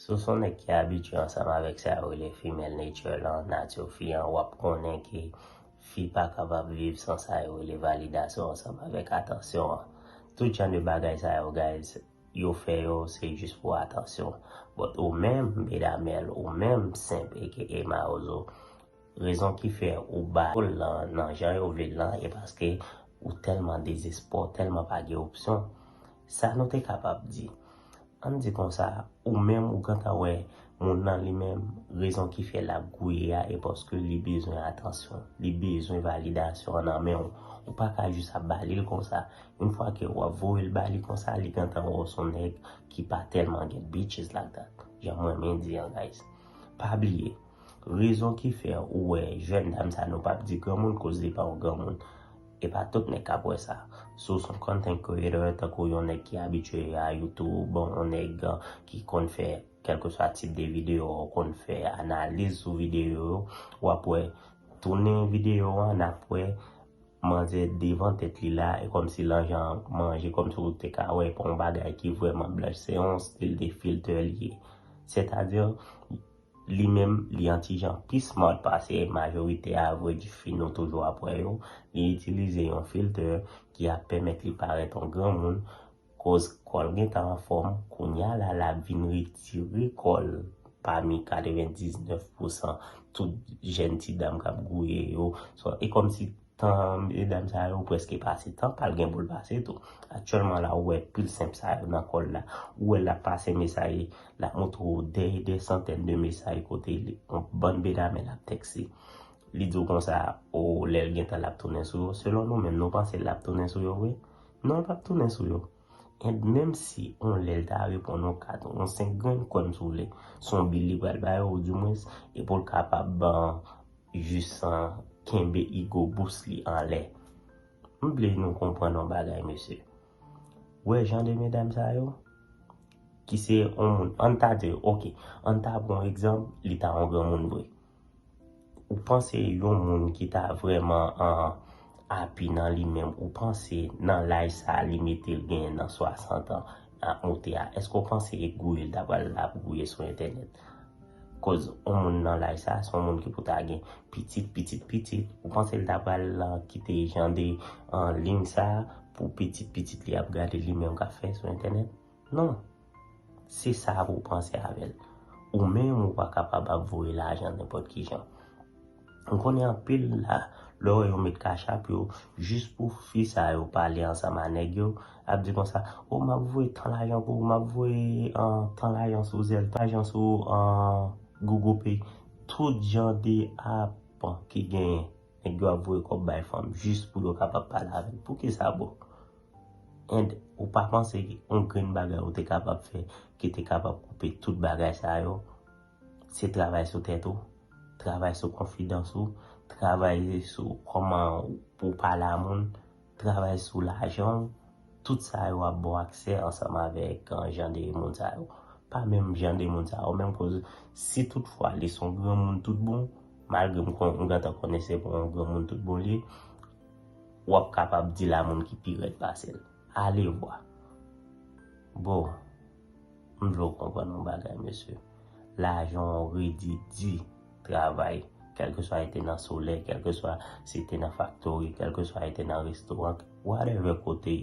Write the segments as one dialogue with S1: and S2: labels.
S1: Si w son nèg ki abitye ansanm avèk sa yo rele female nature lan, nature fi an, w ap konnen ke fi pa kapab viv san sa yo rele validasyon ansanm avèk atansyon an. Tout jan de bagay sa yo guys, yo fè yo se jis pou atansyon. But ou menm, Bedamèl, ou menm, Simp aka Mawozo, Rezon ki fè ou ba yo l lan nan jan yo vle l lan e paske ou tèlman dezespè w tèlman pa gen opsyon. Sa nou te kapab di? An n di konsa, ou menm ou gentan wè moun lan li menm rezon ki fè l ap gouye a e paske li bezwen atansyon, li bezwen validasyon nan men w. Ou pa ka jis ap ba li l konsa. Yon fwa ke w ap voye l ba li konsa, li gentan wè w s on nèg ki pa tèlman gen bitches like that, jan m renmen di an guys. Pa bliye. Rezon ki fè ou wè jèn dam sa nou pap di granmoun koz li pa yon granmoun. E pa tout nèg kap wè sa. Si w s on content creator tankou yon nèg ki abitye a youtube, yon nèg ki konn fè kèlkeswa tip de videyo a, ou konn fè analiz sou videyo yo, wap wè tounen videyo an nap wè manzè devan tèt li la e kòmsi lan jan an manje kòmsi w te ka wè e pa yon bagay ki vrèman blanch se yon stil de filter li ye. Sètadi Li menm li yon ti jan pi smart pase majorite a vre di fi nou toujou ap wè yo, li itilize yon filter ki ap pèmèt li parèt an granmoun koz kòl gentan anfòm, kounya la lap vin retire kòl pami 99 pousan tout jèn ti dam kap gouye yo, so e kòmsi Tan 2 dam sa yo preske pase tan pal gen poul pase tou. Aktyèlman la ou wè pil simp sa yo nan kòl la. Ou wèl lap pase mesay lap montre w dè dè santèn de mesay kote yon bann bedame lap tèkse. Li di w konsa oo lèl gentan lap tounen sou yo. Selon nou menm nou panse lap tounen sou yo vre? Non l pap tounen sou yo. And menm si yon lèl ta reponn yon 4 ou yon 5 grenn kòn si w vle. Son bil li pral ba yo ou di mwens e poul kapab ban Jus sa kenbe igo bous li anlè. M vle nou konprann yon bagay mesye. Ou wè jan de medam sa yo, ki se yon moun, an n ta di, ok, an n ta pran egzanp, li ta yon granmoun vre. Ou panse yon moun ki ta vrèman an api nan li menm, ou panse nan laj sa a li mete l genyen nan 60 an ap moute a, èske w panse gouye l ta pral la pou gouye sou entènèt? Koz on moun nan laj sa a se on moun ki pou ta gen pitit, pitit, pitit. Ou panse li ta pral kite jan de lign sa a pou pitit, pitit li ap gade li menm k ap fè sou entènèt? Non. Se sa pou w panse avè l. Ou menm ou pa kapab ap voye lajan nenpòt ki jan. M konnen anpil la lè w wè yo met kachap yo jis pou fi sa yo pale ansanm a nèg yo ap di konsa oh m ap voye tan lajan pou ou m ap voye tan lajan sou zelle tan lajan sou Google pay tout jan de app ki genyen nèg yo ap voye kòb bay fanm jis pou yo kapab pale avè l pou kisa bro and ou pa panse yon grenn bagay ou te kapab fè ki te kapab koupe tout bagay sa yo. Se travay sou tèt ou, travay sou konfidans ou, travay sou kòman pou pale a moun, travay sou lajan ou, tout sa yo ap ba w aksè ansanm avèk jan de moun sa yo. Pa menm jan de moun sa yo menm koz si tout fwa li son granmoun tout bon, malgre m konnen m gentan konnen se pa yon granmoun tout bon li ye, w ap kapab di l a moun ki pi rèd pase l. Alevwa. Bon. M vle w konprann yon bagay mesye, lajan w redi di travay, kèlkeswa e te nan solèy, kèlkeswa si te nan faktori, kèlkeswa e te nan restoran, whatever kote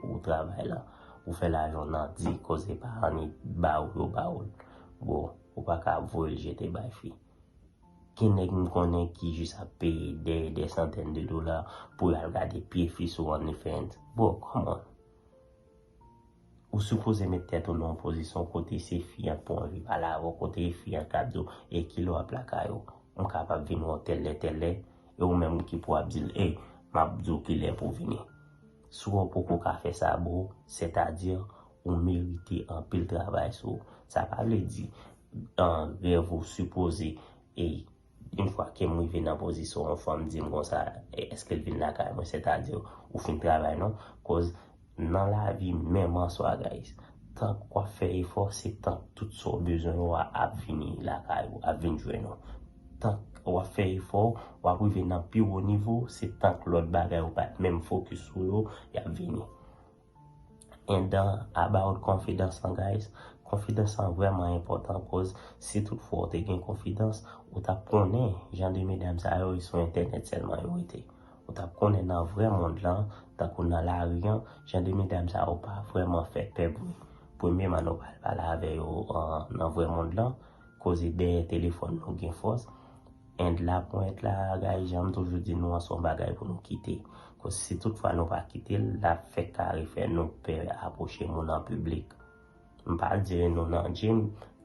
S1: ou travay la, ou fè lajan w nan di koze pa an e ba ou yo ba ou l. Bro, ou pa ka ap voye l jete bay fi. Gen nèg m konnen ki jis ap peye dè dè santèn de dola pou y al gade pye fi sou OnlyFans. Bro, come on. Ou sipoze met tèt ou nan yon pozisyon kote se fi an ki pou anvi pale avè w, kote e fi an k ap di w, ey ki lè w ap lakay ou, m kapab vin wè w tèllè tèllè, e ou menm ki pou ap di l, ey m ap di w ki lè pou w vini. Si w poko ka fè sa bro, sètadi ou merite anpil travay sou ou. Sa pa vle di rèv ou sipoze e Yn fwa kem rive nan pozisyon yon fanm dim konsa eskel vin lakay mwen sètadi ou fin travay non koz nan lavi menm answa guys tank wap fè efò se tank tout sa w bezwen yo a ap vini lakay ou ap vin jwenn ou tank wap fè efò wap rive nan pi wo nivo se tank lòt bagay ou pat menm fokis sou yo yap vini And about konfidans lan guys, konfidans lan vrèman enpòtan koz si tout fwa ou te gen konfidans, ou tap konnen jan de medam sa yo e sou entènèt sèlman yo rete. Ou tap konnen nan vrè mond lan, tankou nan lari an, jan de medam sa yo pa vrèman fè pè bri. Premyeman nou pral pale avè yo nan vrè mond lan, koze dèyè telefòn nou gen fòs, End la pwent la guys janm toujou di nou an son bagay pou nou kite koz si tout fwa nou pa kitel lap fè kare fè nou pè aproche moun an piblik m pa dire nou nan gym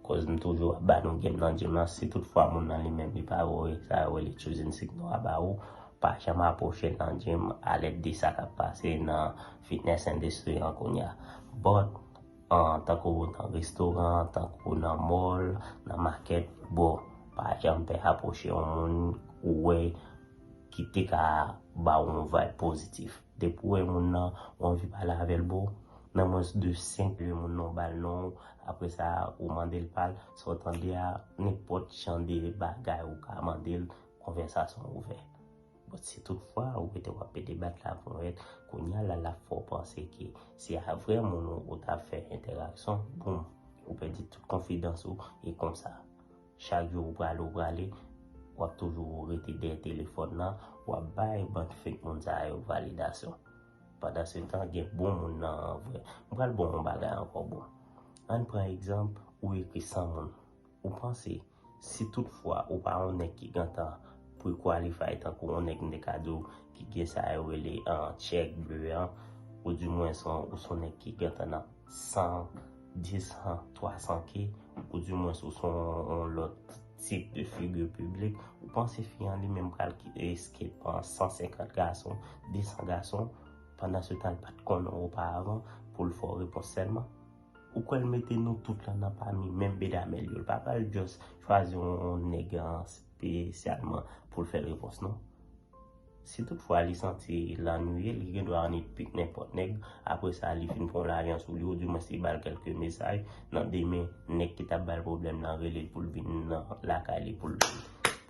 S1: koz m toujou ap ba nou game nan gym lan si tout fwa moun nan li menm li pa voye sa yo rele choosing sick nou a ba ou pa janm aproche nan gym alèd de sa kap pase nan fitness industry an kounya but Tankou nan restoran, tankou nan mall, nan makèt, bro, pa janm pè apwoche yon moun ou wè ki te ka ba ou yon vibe pozitif. Depi ou wè moun nan, ou anvi pale avè l, bro, nan mwens de 5 segonn moun nan ou ba l non ou, apre sa ou mande l pa l, sa ou tande a, nenpòt jan de bagay ou ka mande l, konvèsasyon ouvè. Bon si tout fwa ou rete wap pede bat la ponyèt kounya la lap fè w panse ke se a vrè moun ou tap fè entèrakson boom ou pèdi tout konfidans ou e konsa chak jou ou prale ou prale wap toujou rete dèyè telefòn nan wap bay bann fake moun sa yo validasyon pandan se tan gen bon moun nan an vrè m pral baw yon bagay ankò bro ann pran egzanp ou ekri 100 moun ou panse Si tout fwa ou pa yon nèg ki gentan pre-qualify tankou yon nèg m te ka di w ki gen sa yo rele check bleu an, ou di mwens ou son nèg ki gentan nan 100, 200, 300 ke, ou di mwens ou son yon lòt tip de figure publique, ou panse fi an li menm pral escape pa 150 gason, 200 gason, pandan se tan l pat konnen w opa avan, pou l fè w repons sèlman? Ou kwè l mete nou tout la nan pami menm bedame l yo? L pa pral just chwazi yon nèg spesyalman pou l fè repons non. Si tout fwa li santi l annuiye, li gen dwa annik pik nenpòt nèg, apre sa li fin pran yon larjan sou li, oudimwens li ba l kèlke mesaj, nan demen nèg ki t ap ba l pwoblèm lan rele l pou l vin nan lakay li pou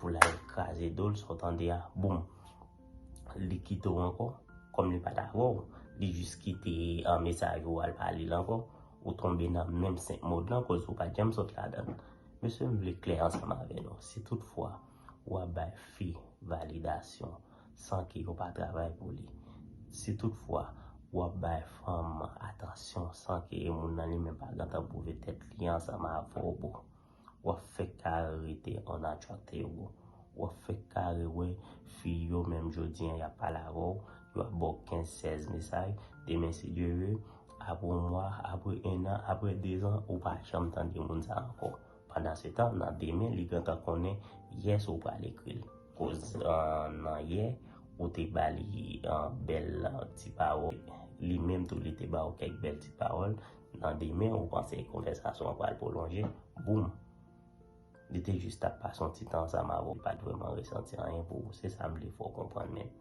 S1: l al kraze do l, sa w tande a, boum! li kite w ankò, kòm li pat avè w, li jis kite an mesaj ou al pa li l ankò, ou tonbe nan menm 5 mòd lan kòz ou pat janm sot ladan l. Mesye m vle klè ansanm avè nou, si tout fwa w ap bay fi validasyon san ke yo pa travay pou li, si tout fwa w ap bay fanm atansyon san ke moun nan li menm pa gentan pwouve tèt li ansanm avè w bro, wap fèk kare rete an atchwateyou, wap fèk kare wè fi yo menm jodi an yap pale avèw, yo ap baw 15 16 mesaj, demen si Dye ve, apre yon mwa, apre 1 an, apre 2 zan ou pa janm tande moun sa ankò, pandan se tan nan demen li gentan konnen yè sa ou pral ekril, koz nan yè ou te bali bèl ti pawòl, li menm tou li te baw kèk bèl ti pawòl. Nan demen ou panse konvèsasyon an pral pwolonje, boum! Li te jis t ap pase yon ti tan ansanm avè w, li pa t vrèman resanti anyen pou ou. Se sa m vle fè w konprann men.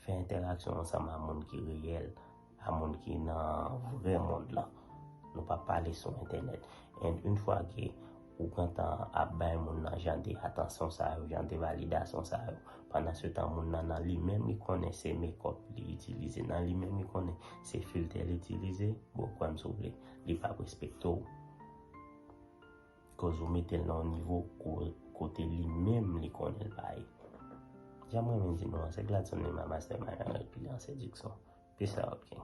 S1: Fè entèraksyon ansanm a moun ki reyèl, a moun ki nan vrè mond lan. Nou pa pale sou entènèt. And, une fois que. Ou pran tan ap bay moun nan jan de atansyon sa yo, jan de validasyon sa yo. Pandan se tan moun nan nan li menm li konnen se mekòp li itilize, nan li menm li konnen se filtè li itilize, bro kwè m si w vle, li p ap respekte w. Koz ou mete l nan yon nivo kote li menm li konnen l pa ye. Jan m renmen di nou an, se Gladson Lima Mastermind avèk Pilian Séduction. Peace out king.